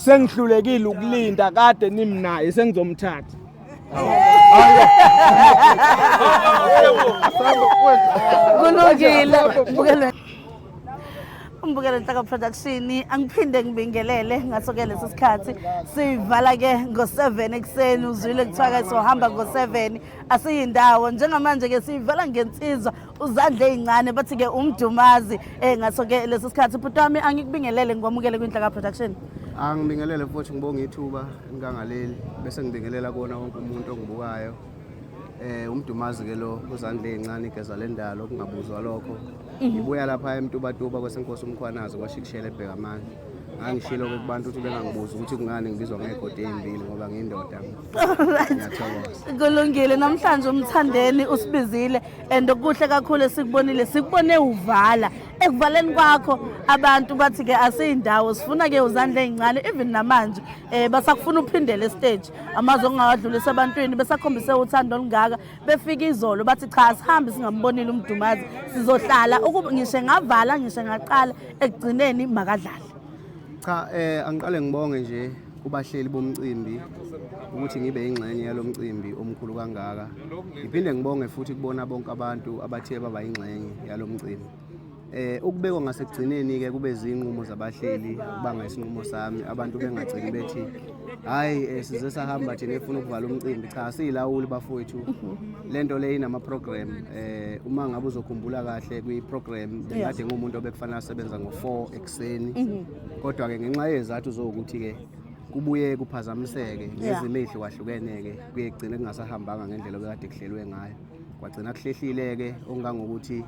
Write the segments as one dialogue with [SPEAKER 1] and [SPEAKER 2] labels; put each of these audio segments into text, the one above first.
[SPEAKER 1] Sengihlulekile ukulinda kade nimnaye sengizomthatha.
[SPEAKER 2] Kulungile. Bukele. Umbukele Nhlaka Production angiphinde ngibingelele ngaso ke lesi sikhathi sivala ke ngo7 ekseni uzwile kuthiwa ke sohamba ngo7 asiyindawo njengamanje ke siyivala ngensizwa uzandla ezincane bathi ke umdumazi eh ngaso ke lesi sikhathi bhuti wami angikubingelele ngikwamukele kwinhlaka production angibingelele
[SPEAKER 3] futhi ngibonga ithuba ngikangaleli bese ngibingelela kona wonke umuntu ongibukayo eh umdumazi ke lo uzandla ezincane igeza lendalo kungabuzwa lokho mhm. ngibuya lapha emtubatuba kwesenkosi umkhwanazi kwashikishela ebheka amandla angishilo ke kubantu ukuthi bengangibuza ukuthi kungani ngibizwa ngegodi ezimbili ngoba ngindoda kulungile
[SPEAKER 2] namhlanje umthandeni usibizile and okuhle kakhulu esikubonile sikubone uvala ekuvaleni kwakho abantu bathi ke asiyindawo sifuna ke uzandla ezincane even namanje eh basakufuna uphindele stage amazwi ongawadlulisa ebantwini besakhombise uthando olungaka befika izolo bathi cha sihambe singambonile umdumazi sizohlala ukuba ngishe ngavala ngishe ngaqala ekugcineni makadlale cha
[SPEAKER 3] eh angiqale ngibonge nje kubahleli bomcimbi ukuthi ngibe yingxenye yalo mcimbi omkhulu kangaka ngiphinde ngibonge futhi kubona bonke abantu abathe baba yingxenye yalo mcimbi eh ukubekwa ngasekugcineni ke kube zinqumo zabahleli kubanga isinqumo sami abantu bengagcini bethi hayi eh, size sahamba thina efuna ukuvala umcimbi cha siyilawuli bafowethu lento le inama program eh uma ngabe uzokhumbula kahle kwi program bekade ngumuntu obekufanele asebenza ngo 4 ekuseni mhm. kodwa ke ngenxa yezathu zokuthi ke kubuye kuphazamiseke ngezimo ezihlukahlukene ke kuye kugcine kungasahambanga ngendlela obekade kuhlelwe ngayo kwagcina kuhlehlile ke okungangokuthi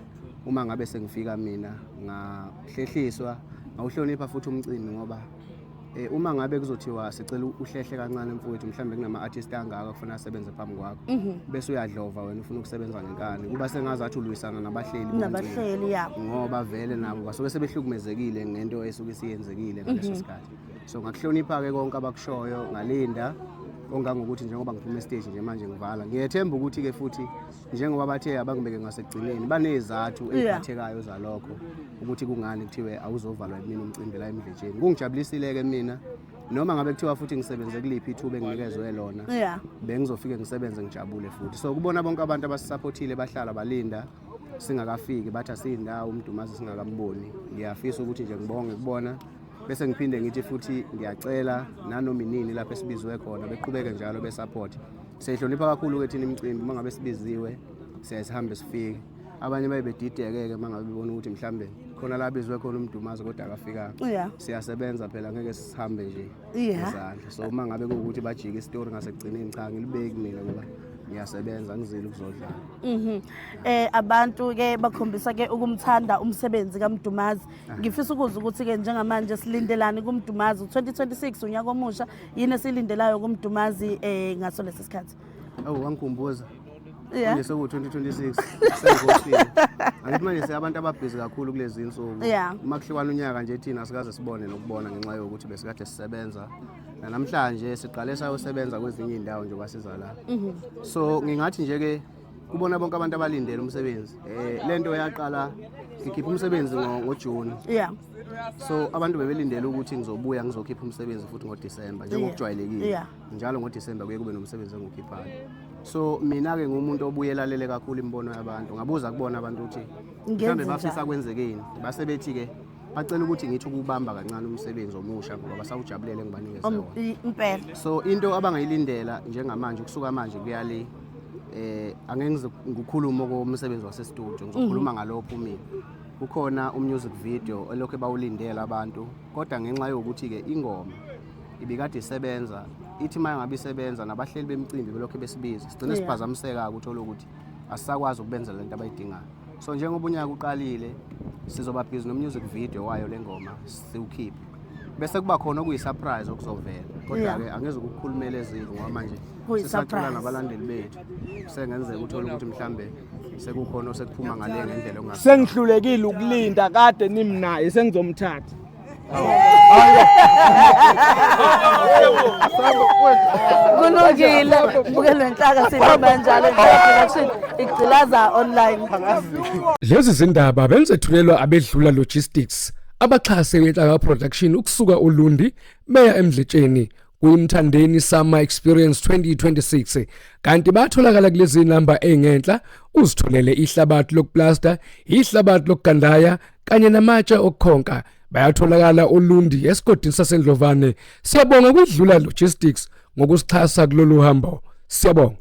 [SPEAKER 3] uma ngabe sengifika mina ngahlehliswa ngawuhlonipha futhi umcimbi ngoba Eh, uma ngabe kuzothiwa sicela uhlehle kancane mfowethu mhlawumbe kunama-artist angaka kufuna asebenze phambi kwakho mhm. bese uyadlova wena ufuna ukusebenza ngenkani kuba sengazathi ulwisana nabahleli nabahleli ya ngoba
[SPEAKER 2] vele nabo
[SPEAKER 3] basuke sebehlukumezekile ngento esuke isiyenzekile ngaleso mhm. sikhathi so ngakuhlonipha-ke konke abakushoyo ngalinda ongangokuthi njengoba ngiphuma esiteji nje manje ngivala ngiyethemba ukuthi-ke futhi njengoba bathe abangibeke ngasekugcineni banezathu eziphathekayo zalokho ukuthi kungani kuthiwe awuzovalwa yimina umcimbi la emdletsheni kungijabulisile-ke mina noma ngabe kuthiwa futhi ngisebenze kuliphi ithuba enginikezwe lona yeah. bengizofike ngisebenze ngijabule futhi so kubona bonke abantu abasisaphothile bahlala balinda singakafiki bathi asiyindawo umdumazi singakamboni ngiyafisa ukuthi nje ngibonge kubona bese ngiphinde ngithi futhi ngiyacela nanoma inini lapho esibizwe khona beqhubeke njalo besupport siyihlonipha kakhulu ke thina imicimbi uma ngabe sibiziwe siyaye sihambe sifike abanye baye bedideke-ke uma ngabe bebona ukuthi mhlawumbe khona la bizwe khona umdumazi kodwa akafikanga yeah. siyasebenza phela ngeke sihambe nje yeah. so uma ngabe kuwukuthi bajike isitori ngasekugcineni cha ngilibeki mina ngoba ngiyasebenza ngizile ukuzodlala mhm eh abantu
[SPEAKER 2] ke bakhombisa ke ukumthanda umsebenzi kaMdumazi ngifisa ukuzwa ukuthi-ke njengamanje silindelani kumdumazi u-2026 unyaka omusha yini esiyilindelayo kumdumazi um eh, ngaso lesi sikhathi awu wangikhumbuza
[SPEAKER 3] Yeah. Manje seku-2026 sengosini angithi manje seabantu ababhizi kakhulu kulezi nsuku Yeah. uma kuhliwana unyaka nje thina sikaze sibone nokubona ngenxa yokuthi besikade sisebenza nanamhlanje siqale sayosebenza kwezinye iy'ndawo njengoba siza la so ngingathi nje-ke kubona bonke abantu abalindele umsebenzi eh lento yaqala ngikhipha umsebenzi ngojuni yeah so abantu bebelindele ukuthi ngizobuya ngizokhipha umsebenzi futhi ngodisemba njengokujwayelekile yeah. njalo ngodisemba kuye kube nomsebenzi engiwukhiphayo so mina-ke ngumuntu obuyelalele kakhulu imibono yabantu ngabuza kubona abantu ukuthi mhlawumbe bafisa kwenzekeni base bethi-ke bacela ukuthi ngithi ukubamba kancane umsebenzi omusha ngoba basawujabulele engibanikeze wona impela so
[SPEAKER 2] into
[SPEAKER 3] abangayilindela njengamanje ukusuka manje kuya le eh angeke ngize ngikhulume okomsebenzi wasestudio ngizokhuluma mhm. ngalopho mina kukhona umusic video elokhu bawulindela abantu kodwa ngenxa yokuthi ke ingoma ibikade isebenza ithi maye ngabe isebenza nabahleli bemcimbi belokhu besibiza sigcine siphazamiseka ukuthi uthole ukuthi asisakwazi ukubenza lento abayidingayo so njengoba unyaka uqalile sizoba busy nomusic video wayo lengoma siwukhiphe bese kuba khona okuyisurprise okuzovela kodwa-ke yeah. angeze ukukhulumela ezili ngoba manje sisacula nabalandeli bethu sengenzeka uthole ukuthi mhlambe sekukhona osekuphuma ngale ngendlela sengihlulekile ukulinda
[SPEAKER 1] kade nimnaye sengizomthatha
[SPEAKER 2] kulungile bukele nhlaka sihamba njalo production igcilaza
[SPEAKER 4] online lezi zindaba benzethulelwa abedlula logistics abaxhase inhlaka production ukusuka ulundi beya emdletsheni kuyimthandeni summer experience 2026 kanti batholakala kulezi namba engenhla uzitholele ihlabathi lokuplasta ihlabathi lokugandaya kanye namatshe okukhonka bayatholakala olundi esigodini sasendlovane siyabonga kwidlula logistics ngokusixhasa kulolu hambo siyabonga